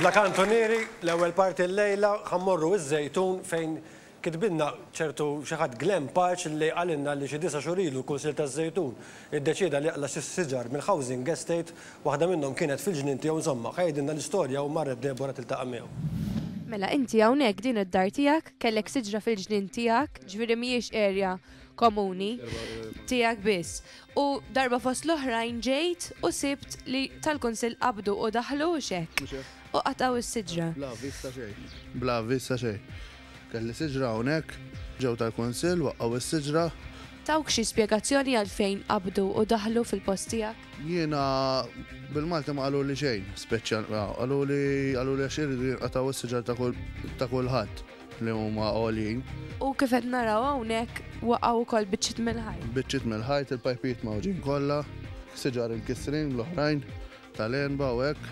Bla kantunieri, l-ewwel parti llejla ħa mmorru iż-Żejtun fejn kitbilna ċertu xi ħadd Glenn Parch li qalilna li xi disa' xhur ilu l-Kunsill taż-Żejtun iddeċieda li jaqla' xi siġar mill-housing estate, waħda minnhom kienet fil-ġnien tiegħu insomma, ħa jgħidilna l-istorja u marret Deborah tiltaqa' miegħu. Mela inti hawnhekk din id-dar tiegħek kellek siġra fil-ġnien tiegħek, ġifieri mhijiex area komuni tiegħek biss. U darba fost l-oħrajn ġejt u sibt li tal-Kunsill qabdu u daħlu u x'hekk. U qatgħu s-siġra. Bla avviż ta' xejn. Bla avviż ta' xejn. Kelli siġra hawnhekk, ġew tal-Kunsill, waqqgħu s-siġra. Tawk xi spjegazzjoni għalfejn qabdu u daħlu fil-post tiegħek? Jiena bil-Malti ma qaluli xejn speċjal. Qaluli qaluli għax iridu jinqatgħu s-siġar ta' kulħadd. li huma għoljin. U kif qed naraw hawnhekk waqgħu wkoll biċċiet mill-ħajt. Biċċiet mill-ħajt, il-pajpijiet mawġin kollha, siġar imkissrin l-oħrajn tal-enba u hekk.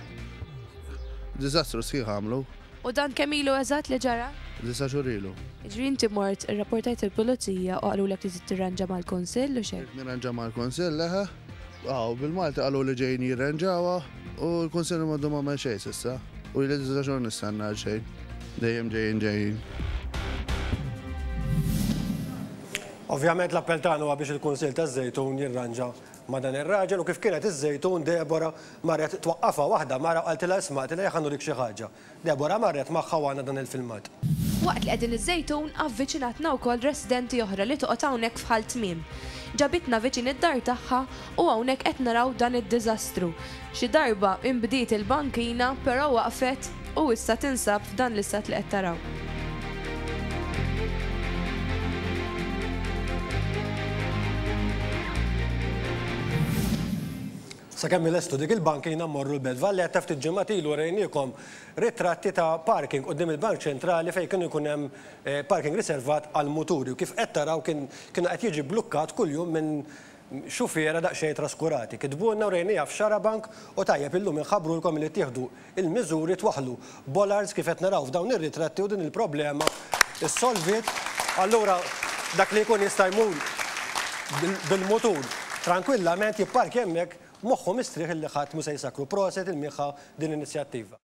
Diżastru sħiħ għamlu. U dan kemm ilu eżatt li ġara? Disa xhur ilu. Ġri inti mort irrapportajt il-pulizija u qalulek li tirranġa mal-kunsill u xejn. Nirranġa mal-kunsill leħa. Aw, bil-Malti qalu li ġejjin jirranġawha u l-Kunsill m'għandu m'għamel xejn s'issa. U jien issa xogħol nistenna għal xejn. Dejjem ġejjin ġejjin. Ovvjament l-appell tagħna huwa biex il-Kunsill taż-Żejtun jirranġa ma' dan ir-raġel u kif kienet iż-Żejtun Deborah marret twaqqafha waħda mara qaltilha isma' qaltilha jekk għandu dik xi ħaġa. Deborah marret magħha u għandna dan il-filmat. Waqt li qegħdin iż-Żejtun avviċinatna wkoll residenti oħra li toqgħod hawnhekk f'Ħal Tmiem. Ġabitna viċin id-dar tagħha u hawnhekk qed naraw dan id-diżastru. Xi darba inbdiet il-bankina però waqfet u issa tinsab f'dan l-istat li qed taraw. Sakemm ilestu dik il-bankina mmorru l-Belt Valletta ftit ġimgħat ilu rejniekom ritratti ta' parking quddiem il-Bank Ċentrali fejn kien ikun hemm parking riservat għall-muturi u kif qed taraw kien kien qed jiġi blukkat kuljum minn xufiera daqsxejn traskurati. Kitbulna u rejnieha f'Xarabank u tajjeb illum inħabbrulkom li ttieħdu il-miżuri twaħħlu. Bollards kif qed naraw f'dawn ir-ritratti u din il-problema ssolviet. Allura dak li jkun jista' jmur bil-mutur trankwillament jipparkja hemmhekk moħħu mistrieħ illi ħadd mhu se jsakkru. Proset il-Miħa din l-inizjattiva.